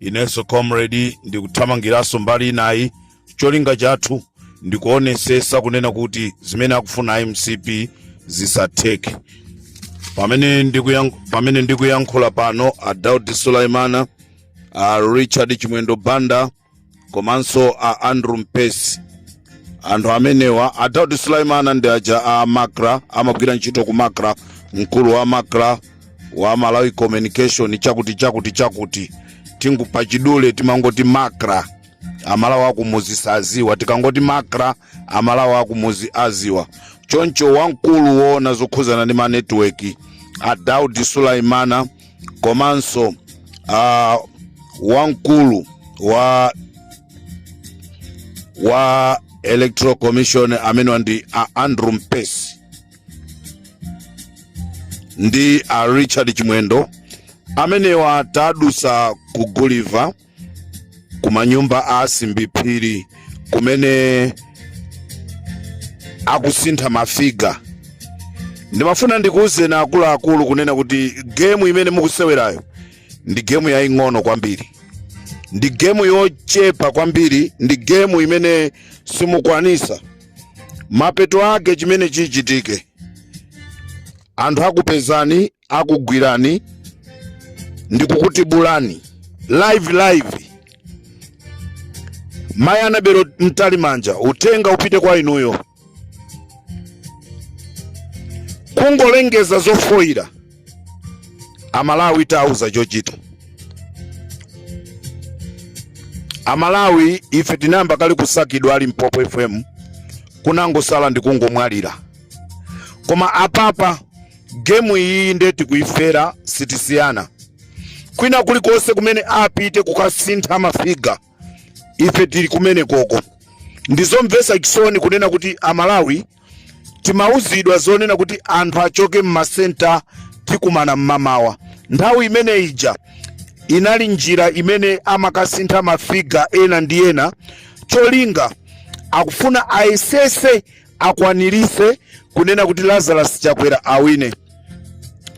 inenso comrade ndikuthamangiranso mbali inayi cholinga chathu ndikuonesesa kunena kuti zimene akufuna mcp zisatheke pamene ndikuyank- pamene ndikuyankhula pano a daud suleman a richard chimwendo banda komanso a andrew mpesi anthu amenewa a daud suleman ndi aja a macra amagwira ntchito ku macra mkulu wa macra wa malawi communication chakuti chakuti chakuti tingu pachidule timangoti macra amalawi akumuzi saziwa tikangoti macra amalawi akumuzi aziwa choncho wamkulu woona zokhuzana ndi manetiweki a daud suleman komanso uh, wamkulu wa wa electoral commission amene ndi a andrew mpesi ndi a richard chimwendo amenewa tadusa ku guliva kumanyumba a a simbi phiri kumene akusintha mafiga ndimafuna ndikuwuzeni akuluakulu kunena kuti gemu imene mukusewerayo ndi gemu yaying'ono kwambiri ndi gemu yochepa kwambiri ndi gemu imene simukwanisa mapeto ake chimene chichitike anthu akupezani akugwirani ndikukutibulani live live mayi annabel mtalimanja utenga upite kwa inuyo kungolengeza zofoyira amalawi tauza chochita amalawi ife tinayamba kale kusakidwa ali mpopo fm kunangosala ndikungomwalira koma apapa gemu iyiyi nde tikuyifera sitisiyana kwina kulikonse kumene apite kukasintha mafiga ife tili kumene koko ndizomvesa chisoni kunena kuti amalawi timauzidwa zonena kuti anthu achoke mmasenta tikumana mmamawa nthawi imene ija inali njira imene amakasintha mafiga ena ndi ena cholinga akufuna ayesese akwanirise kunena kuti Lazarus Chakwera awine.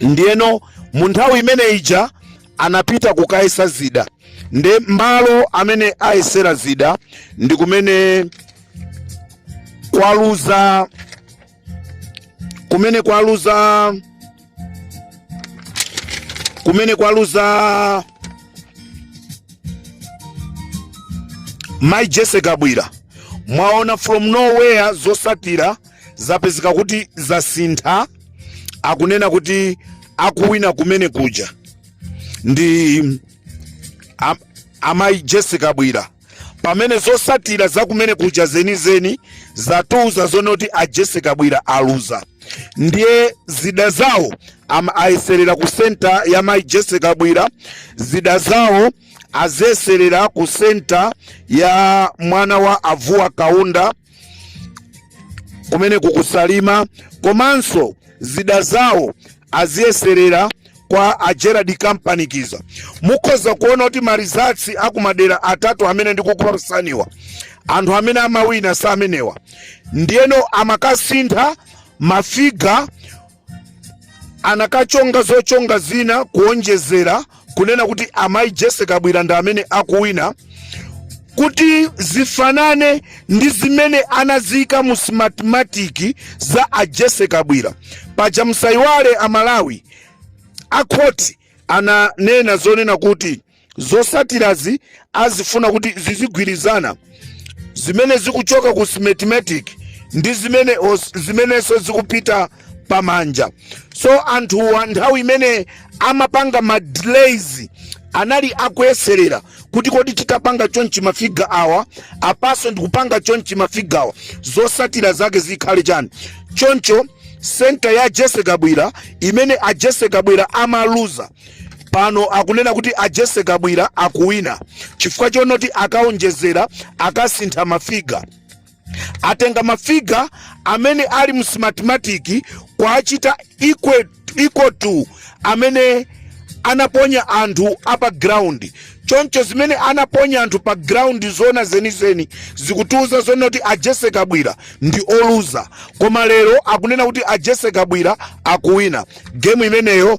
Ndiyeno mu nthawi imene ija anapita kukayesa zida nde malo amene ayesera zida ndi kumene kwaluza kumene kwaluza kumene kwaluza mai Jesse Kabwira mwaona from nowhere zosatira zapezeka kuti zasintha akunena kuti akuwina kumene kuja ndi amayi Jesse Kabwira pamene zosatira za kumene kuja zenizeni zatiuza zonoti a Jesse Kabwira aluza ndiye zida zawo ayeserera ku senta ya mai Jesse Kabwira zida zawo aziyeserera ku senta ya mwana wa a Vuwa Kaunda kumene ku ku Salima komanso zida zawo aziyeserera kwa a Gerald Kampanikiza. Mukhoza kuona kuti ma results akumadera atatu amene ndikukupatsaniwa anthu amene amawina si amenewa ndiyeno amakasintha mafiga nakachonga zochonga zina kuonjezera kunena kuti amayi Jesse Kabwira ndi amene akuwina kuti zifanane ndi zimene anaziika mu Smartmatic za a Jesse Kabwira paja musayiwale a Malawi akhoti ananena zonena kuti Zotsatirazi akufuna kuti zizigwirizana zimene zikuchoka ku Smartmatic ndi zimene zimenenso zikupita pamanja so anthuwa nthawi imene amapanga ma delays anali akuyeserera kuti kodi titapanga chonchi mafiga awa apanso ndikupanga chonchi mafiga awa zotsatira zake zikhale chani choncho senta ya Jesse Kabwira imene a Jesse Kabwira amaluza pano akunena kuti a Jesse Kabwira akuwina chifukwa chonoti akaonjezera akasintha mafiga atenga mafiga amene ali mu Smartmatic kuwachita equal to amene anaponya anthu a pa ground choncho zimene anaponya anthu pa ground zoona zenizeni zikutiuza zonoti a Jesse Kabwira ndi oluza koma lero akunena kuti a Jesse Kabwira akuwina game imeneyo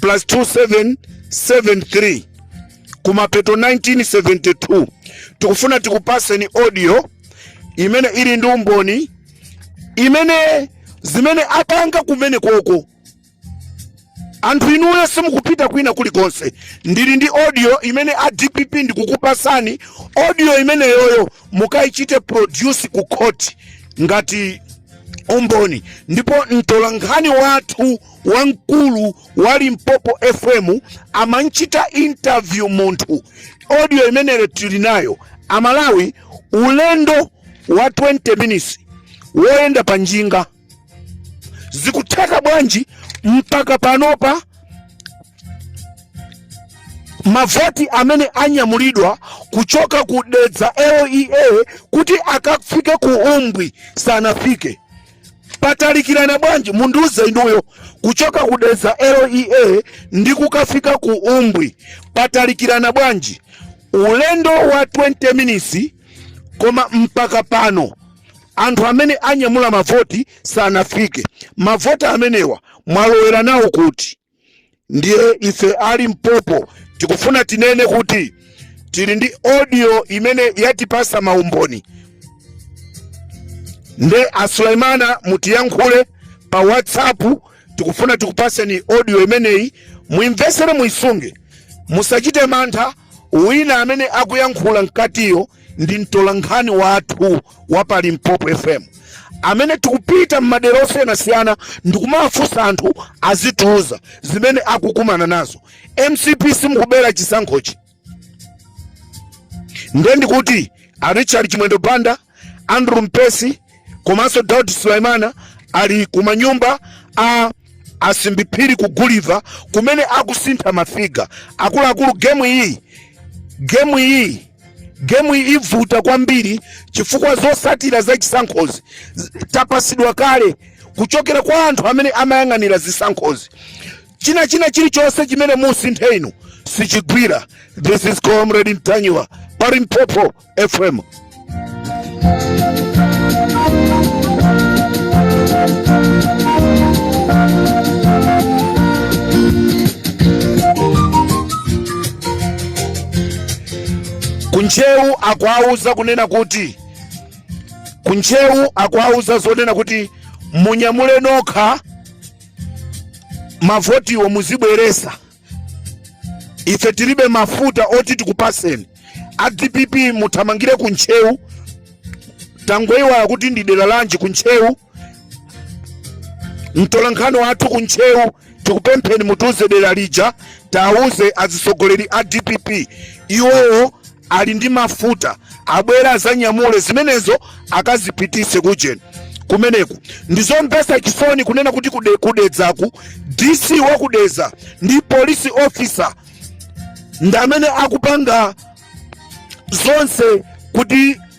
plus 2773 kumapeto 1972 tikufuna tikupaseni audio imene ili ndi umboni imene zimene apanga kumene koko anthu inuyo simukupita kwina kulikonse ndili ndi audio imene a DPP ndikukupasani audio imeneyoyo mukayichite produce ku court ngati umboni ndipo mtolankhani wathu wamkulu wa Limpopo FM amanchita interview munthu, audio imeneyo tili nayo. Amalawi, ulendo wa 20 minutes woyenda pa njinga zikutheka bwanji mpaka panopa mavoti amene anyamulidwa kuchoka ku Dedza LEA kuti akafike ku Umbwi sanafike. patalikirana bwanji mundiuze inuyo kuchoka ku Dedza LEA ndi kukafika ku umbwi patalikirana bwanji ulendo wa 20 minutes koma mpaka pano anthu amene anyamula mavoti sanafike mavoti amenewa mwalowera nawo kuti ndiye ife a Limpopo tikufuna tinene kuti tili ndi audio imene yatipasa maumboni nde a Sulaimana mutiyankhule pa whatsapp tikufuna tikupaseni audio imeneyi muimvesere muisunge musachite mantha Wina amene akuyankhula mkatiyo ndi mtolankhani wathu wa pa Limpopo FM amene tikupita m'madera osiyanasiyana ndikumafunsa anthu azitiuza zimene akukumana nazo. mcp simukubera chisankhochi nde ndikuti a richard chimwendo banda Andrew Mpesi komanso Daud Sulaimana ali kumanyumba a a Simbi Phiri ku Guliva kumene akusintha mafiga akuluakulu. Gemu iyi gemu iyi gemu iyi ivuta kwambiri chifukwa zosatira za chisankhozi tapasidwa kale kuchokera kwa anthu amene amayang'anira zisankhozi. China china chilichonse chimene musinthe inu sichigwira. This is Comrade Ntanyiwa pa Limpopo. FM. ku Ntcheu akuwauza kunena kuti ku Ntcheu akuwauza zonena kuti munyamule nokha mavotiwo muzibweresa ife tilibe mafuta oti tikupaseni a dpp muthamangire ku ntcheu tangoiwala kuti ndi dera lanji ku ntcheu mtolankhani wathu ku ntcheu tikupempheni mutiuze dera lija tiwauze azitsogoleri a dpp iwowo ali ndi mafuta abwere azanyamule zimenezo akazipitise kujeni kumeneku ndizomvesa chisoni kunena kuti kude, ku Dedzaku dc wa ku Dedza ndi police officer ndamene akupanga zonse kuti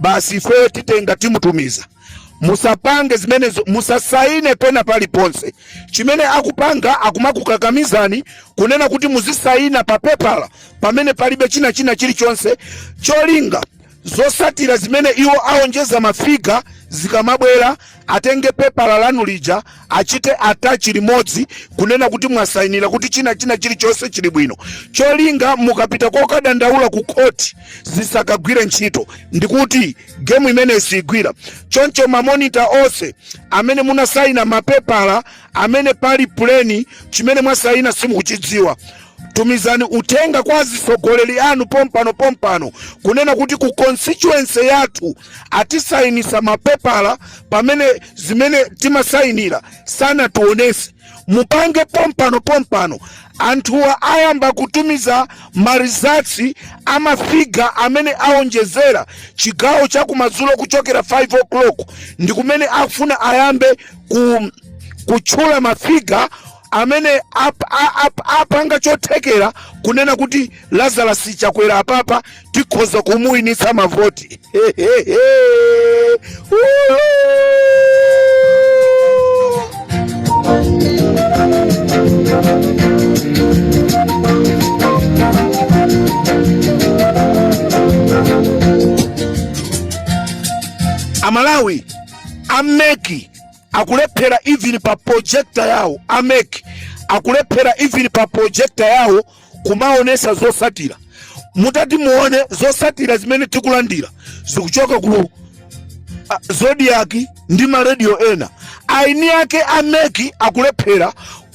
basi ifeyo titenga timutumiza musapange zimenezo musasaine pena paliponse chimene akupanga akumakukakamizani kunena kuti muzisaina pa pepala pamene palibe china china chilichonse cholinga zotsatira zimene iwo aonjeza mafiga zikamabwera atenge pepala lanu lija achite atachi limodzi kunena kuti mwasayinira kuti china china chilichonse chili bwino cholinga mukapita kokadandaula ku khoti zisakagwire ntchito ndikuti gemu imeneyi siigwira choncho mamonita onse amene munasayina mapepala amene pali puleni chimene mwasayina simukuchidziwa tumizani uthenga kwa azitsogoleri anu pompano pompano kunena kuti ku constituency yathu atisainisa mapepala pamene zimene timasainira sanationese mupange pompano pompano anthuwa ayamba kutumiza marizatsi amafiga amene aonjezera chigawo cha kumadzulo kuchokera 5 o'clock ndi kumene afuna ayambe kutchula mafiga amene apanga chothekera kunena kuti Lazarus Chakwera apapa tikhoza kumuwinitsa mavoti Amalawi a MEC akulephera even pa projector yawo a MEC akulephera even pa projector yawo kumaonetsa zotsatira mutati muone zotsatira zimene tikulandira zikuchoka ku Zodiak ndi maradio ena aini ake a MEC akulephera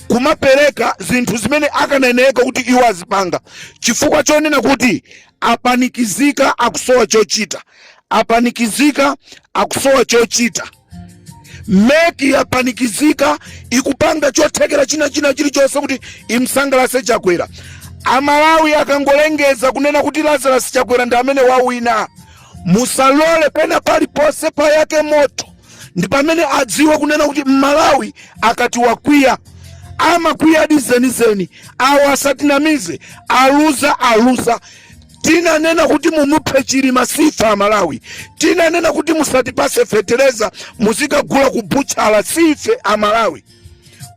kumapereka zinthu zimene akanayenereka kuti iwo azipanga chifukwa chonena kuti apanikizika akusowa chochita apanikizika akusowa chochita MEC yapanikizika ikupanga chothekera china china chilichonse kuti imsangalatse Chakwera Amalawi akangolengeza kunena kuti Lazarus Chakwera ndi amene wawina musalole pena paliponse payaka moto ndi pamene adziwe kunena kuti Mmalawi akati wakwiya amakwiyadi zenizeni awo asatinamize aluza aluza tinanena kuti mumuphe Chilima si ife Amalawi tinanena kuti musatipatse fetereza muzikagula kubutchala si ife Amalawi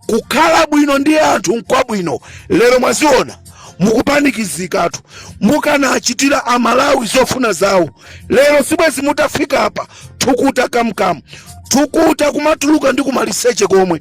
kukhala bwino ndi anthu nkwabwino lero mwaziona mukupanikizikatu mukanachitira Amalawi zofuna zawo lero sibwezi mutafika apa thukuta kamkamu thukuta kumatuluka ndi kumaliseche komwe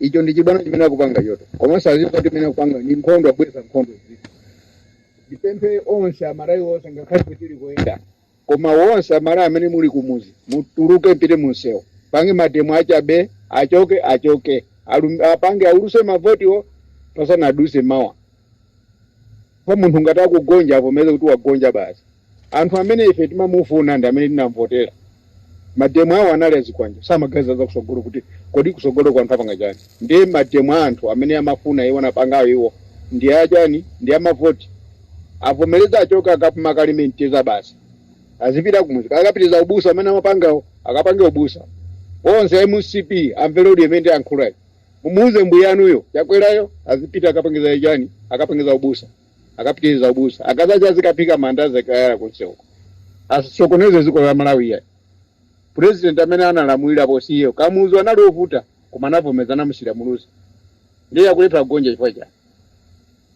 ichi ndi chibwana chimene akupanga choncho komanso azidziwa kuti imene akupanga ni nkhondo akubweretsa nkhondo zii ndipemphe onse amalawi onse ngakhale kuti tili kuyenda koma wonse amalawi amene muli kumuzi mutuluke mpite munsewu mupange mademo achabe achoke achoke Alum, apange aulutse mavotiwo pasanadutse mawa kwa munthu ngati akugonja avomereze kuti wagonja basi munthu amene ife timamufuna ndi amene tinamvotera mademo awo anali a zikwanje samaganiza za kusogolo kuti kodi kusogolo kwa anthu apanga chani ndiye mademo a anthu amene amafuna iwo anapangayo iwo ndi achani ndi amavoti avomereze achoke akapume akalime mtedza basi azipita kumudzi akapitirize ubusa amene amapangawo akapange ubusa onse a mcp amvere kuti mmene ndayankhulamu Mumuuze mbuyanuyo chakwerayo azipita akapangenso chani akapangenso ubusa akapitirize ubusa akazacha azikaphika mandazi akayala kunsewuko asasokoneze ziko la malawi ya president amene analamulira poyambayo kamuzu anali ovuta koma anavomeza anamusiyira muluzi ndiye akulephera kugonja chifukwa chani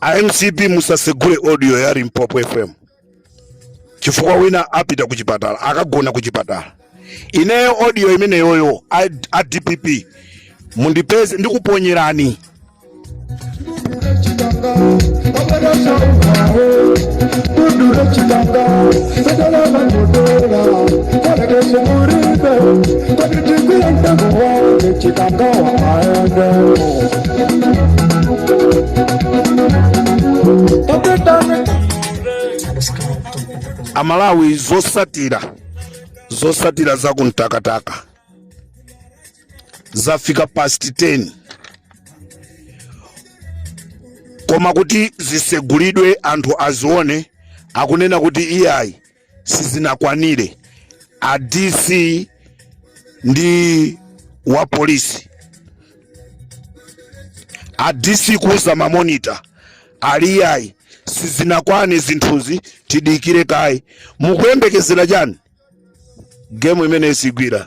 a mcp musasegule audio ya limpopo fm chifukwa wina apita kuchipatala akagona kuchipatala ineyo audio imeneyoyo a, a dpp mundipeze ndikuponyerani amalawi zotsatira zotsatira za kumtakataka zafika past 10 koma kuti zisegulidwe anthu azione akunena kuti iyayi sizinakwanire a DC ndi wa polisi a DC kuuza mamonita ali iyayi sizinakwane zinthuzi tidikire kaye mukuyembekezera chani gemu imeneyi sigwira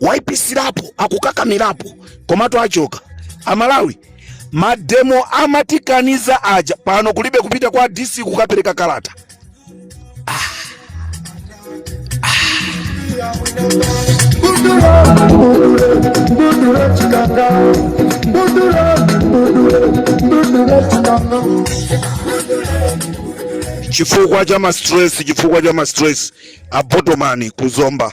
waipitsirapo akukakamirapo komatu achoka amalawi mademo amatikaniza aja pano kulibe kupita kwa dc kukapereka kalata ah. chifukwa cha mastress chifukwa cha mastress abotomani kuzomba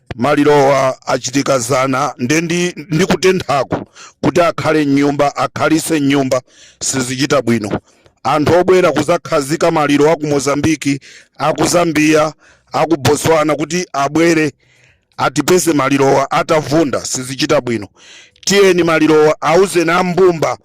Malirowa achitika zana nde ndi ndi kutenthako kuti akhale m'nyumba akhalitse m'nyumba sizichita bwino. Anthu obwera kuzakhazika maliro aku Mozambique, aku Zambia, aku Botswana kuti abwere atipeze malirowa atavunda sizichita bwino. Tiyeni malirowa auzeni a mbumba.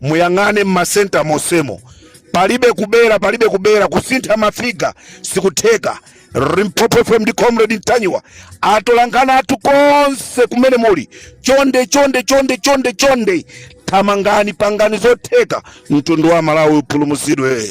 muyang'ane m'masenta monsemo palibe kubera palibe kubera kusintha mafiga sikutheka limpopo fm ndi comrade ntanyiwa atolankhani athu konse kumene muli chonde chonde chonde chonde chonde thamangani pangani zotheka mtundu wa malawi upulumutsidwe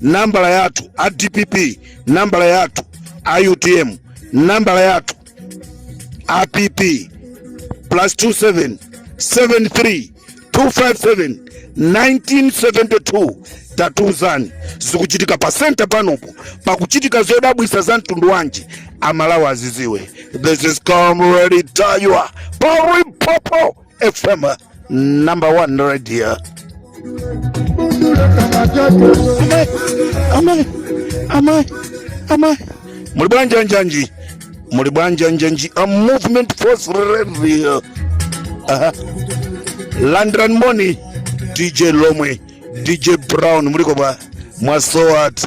nambala yathu a dpp nambala yathu a utm nambala yathu a pp plus 27 73 257 1972 tatuzani zikuchitika pa senta panopo pakuchitika zodabwitsa za mtundu wanji amalawi aziziwe this is comrade ntanyiwa pa limpopo FM number one radio. Amai, amai, amai. Muli bwanji anjanji? Muli bwanji anjanji? A movement force radio. Aha. Landirani moni, DJ Lomwe, DJ Brown, muliko bwa? Mwasowatu.